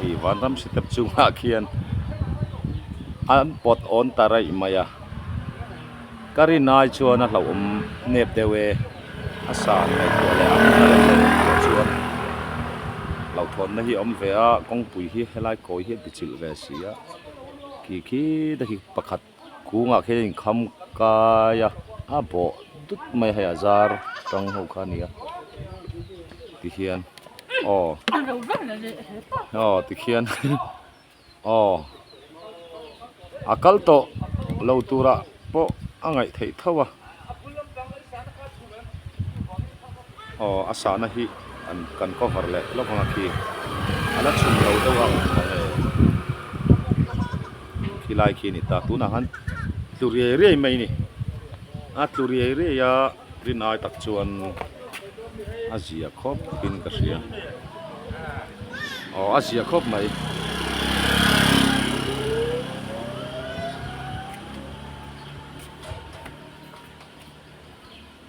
Hei Vanram Sitep chungah khian an pawt awn ta raih mai a, ka rin ai chuan a hlauhawm nep deuh e, a san ngaihtuah leh a rin a let leh ngaihtuah chuan hlauhthawnna hi a awm ve a, kawngpui hi helai kawi hi a bichilh ve si a, khi khi te hi pakhat Kungah khian in kham kai a, a bawh dut mai a hei a zar tang ho kha a ni a tikhian aw aw tikhian aw a kal tawh lo turah pawh a ngaih theih tho a. Aw a sahna hi an kan cover leh lawk ang a khi a la chhun lo deuh ang mawngê khi lai khi a ni ta tunah khan tlu riai riai mai a ni a tlu riai riai a rin ai tak chuan a zia khawp in ka hria aw a zia khawp mai.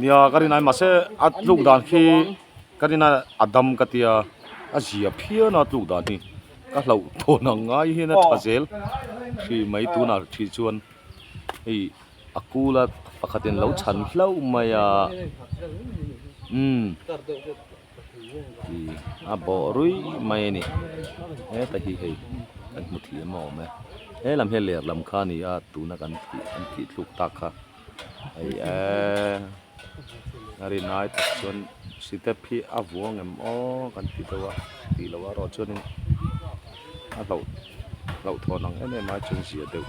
Nia ka rin ai mahse a tluk dan khi ka rin a a dam ka tia a zia phian a tluk dan hi ka hloh thawn ang ngai hian a tha zel hri mai tunah hri chuan hei a kula pakhat in lo chhan hlauh mai a umm a bawh rui mai a ni hetahi hei kan hmu thih em awm e he lam hi a lerlam kha a ni a tuna kan tih an tih tluk tak kha. hei eeee a rin ai tak chuan step hi a vuang em aww kan ti deuh a ti loh a erawh chuan in a hlauh hlauh thawn ang em em ai chuan zia deuh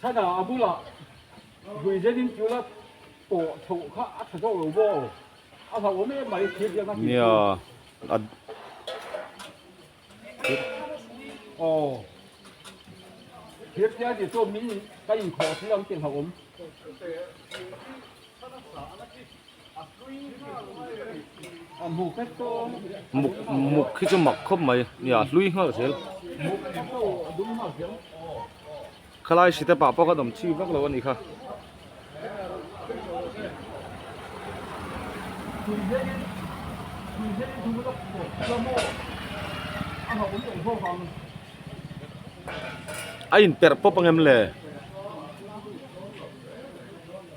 Thana a bula Huizenin chu la tawh chho kha a tha deuh lo bo. A hlauh awm em mai thil biakna tih chu. Aw. Thir tial tih chu min ka inkhawh a thil ang tih hlauh awm. muk muk khi chu mak khawp mai nia a hlui nghal zel khalai hritah pah pawh ka nawm chhi vak lo a ni kha. a inperh pawp angem le.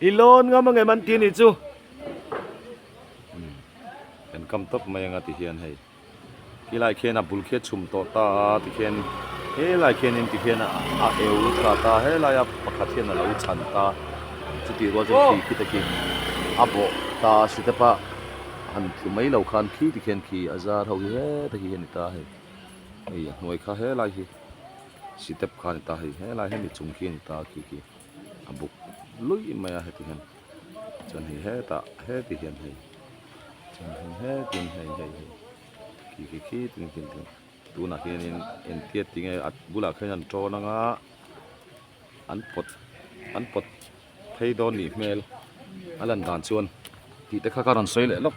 i lawn ngam a ngem an tih a nih chu kan kam tawp mai anga tihian hei. Helai khian a bul khi a chhum tawh ta a tikhian helai khianin tikhian a eu tha ta a helai a pakhat hian a lo chhan ta chutih rual chuan khi khi takin a bawh ta a step a han tlu mai lo khan khi tikhian khi a zar ho hi he ta khi a ni ta hei hei a hnuai kha helai hi step kha a ni ta hei helai he ni chung khi a ni ta khi khi a buk luih mai a hetihian. chuan hei hetah heti hian hei chuan hei hetin hei hei hei khi khi khi tin tin tin tunah hianin entia ti nge a bulah khan an ṭawn anga an pawt an pawt phei dawn nih hmel a lan dan chuan tih te kha kha rawn sawi leh lawk.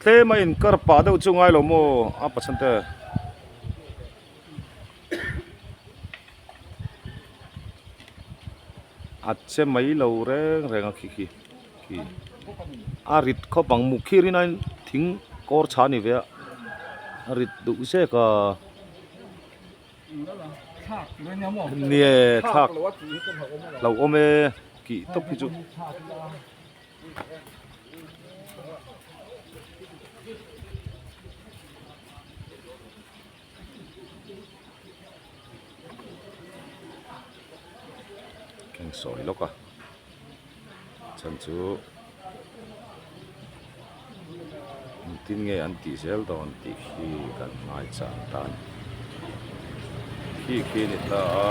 tlema in kar pah deuh chu ngailo maw a pathsan te a che mai lo reng reng a khi khi khi a rit khawp ang muk khir in a in thing kawr chha ni ve a a rit duh zek a. Nge thlak hlauh awm e kih tawp hi chu. Keng sawi lawk a. chhan chu engtin nge an tih zel dawn tih khi kan hmaisa tan khi khi a ni ta a.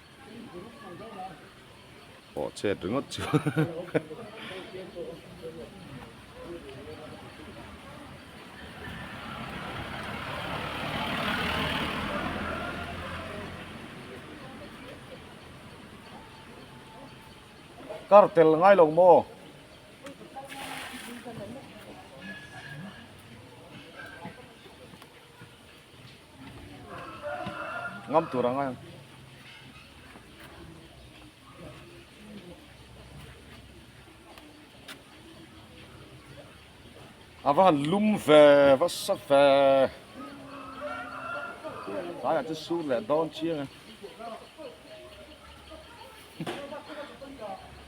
Pawh chhet ringawt chu. Kar tel ngai lo maw? ngam tur ang a ava han lum ve va sa ve ai chu sur leh dawn chiang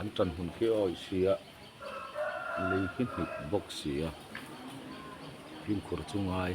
An tan hun khi aw i si a, lei khi hnik bawk si a, hlim khur chu ngai.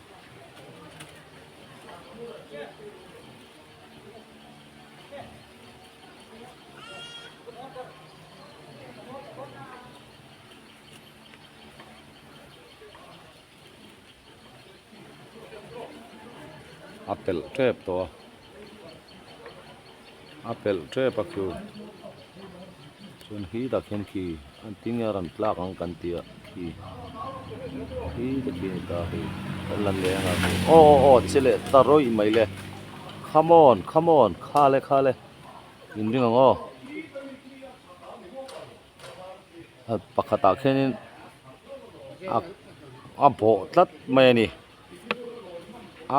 a pelh tep tawh a. a pelh tep a khi chuan khi tak hian khi an ti nge ram tlak ang kan ti a khi khi te khi ta khi kan la leh anga khi aw aw aw che leh ta rawi mai le come on come on kha le kha le in ring ang aw pakhatah khianin a a bawh tlat mai a ni.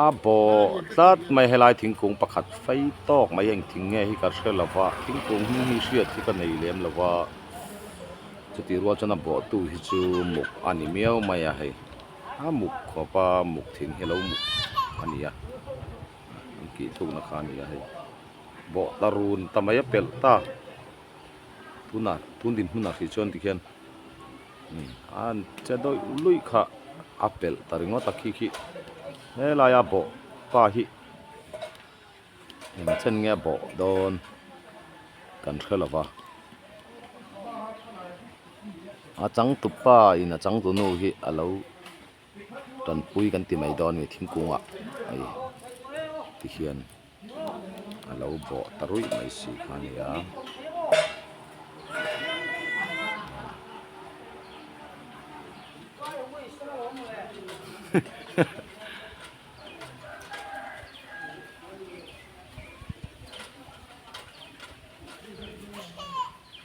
a bawh tlat mai helai thingkung pakhat fai tawk mai a heng thing nge hi ka hre lo va thingkung hi hi hriat hi ka nei lem lo va chutih rual chuan a bawh tu hi chu muk a ni miau mai a hei a muk khawpa muk thin hi a lo muk a ni a an tih thuk na kha a ni a hei bawh ta run ta mai a pelh ta tunah tun dinhmunah khi chuan tikhian-- An che dawih luih kha a pelh ta ringawt a khi khi helai a bawh pa hi eng chen nge bawh dawn kan hre lo va a changtu pa in a changtu nu hi a lo. tanpui kan ti mai dawn a ni thingkungah hei te hian a lo bawh ta ruih mai si kha a ni a hahaha.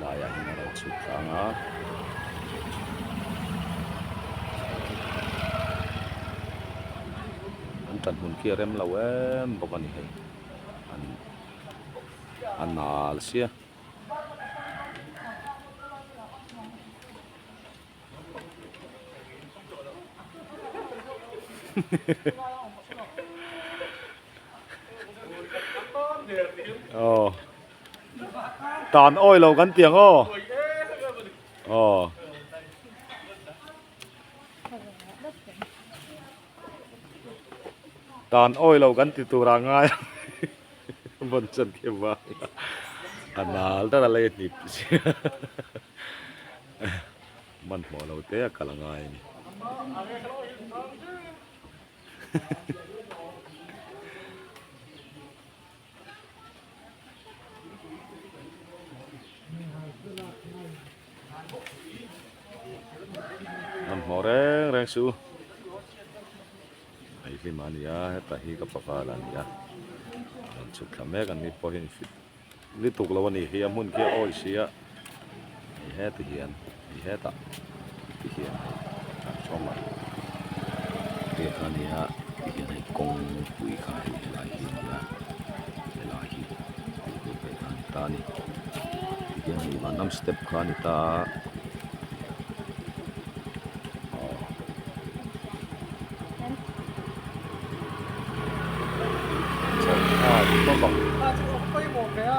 laiah hian a rawn chhuk tlang a an tan hun khi a rem lo em bawk a ni hei an a nal sia. tan awi lo kan tih ang aw aw tan awi lo kan ti tur ah ngai ang Bunsen khi va a nal deuh a lei a hnip sia man hmawh lo te a kal a ngai a ni an hmawh reng reng si u hei hlim ah a ni a heta hi ka papa lah a ni a rawn chhuk thla mek an ni pawh hian fit lutuk lo a ni hei a hmun khi a awlsih a. hei heta hian hei heta te hian hei hnam sawn lah te kha ni a hei hian hei kawngpui kha hei a lai hi a ni a he lai hi tukverh pawh a ni ta a ni hei hian hei van lam step kha a ni ta a aw chhawng thla a awm bawk a.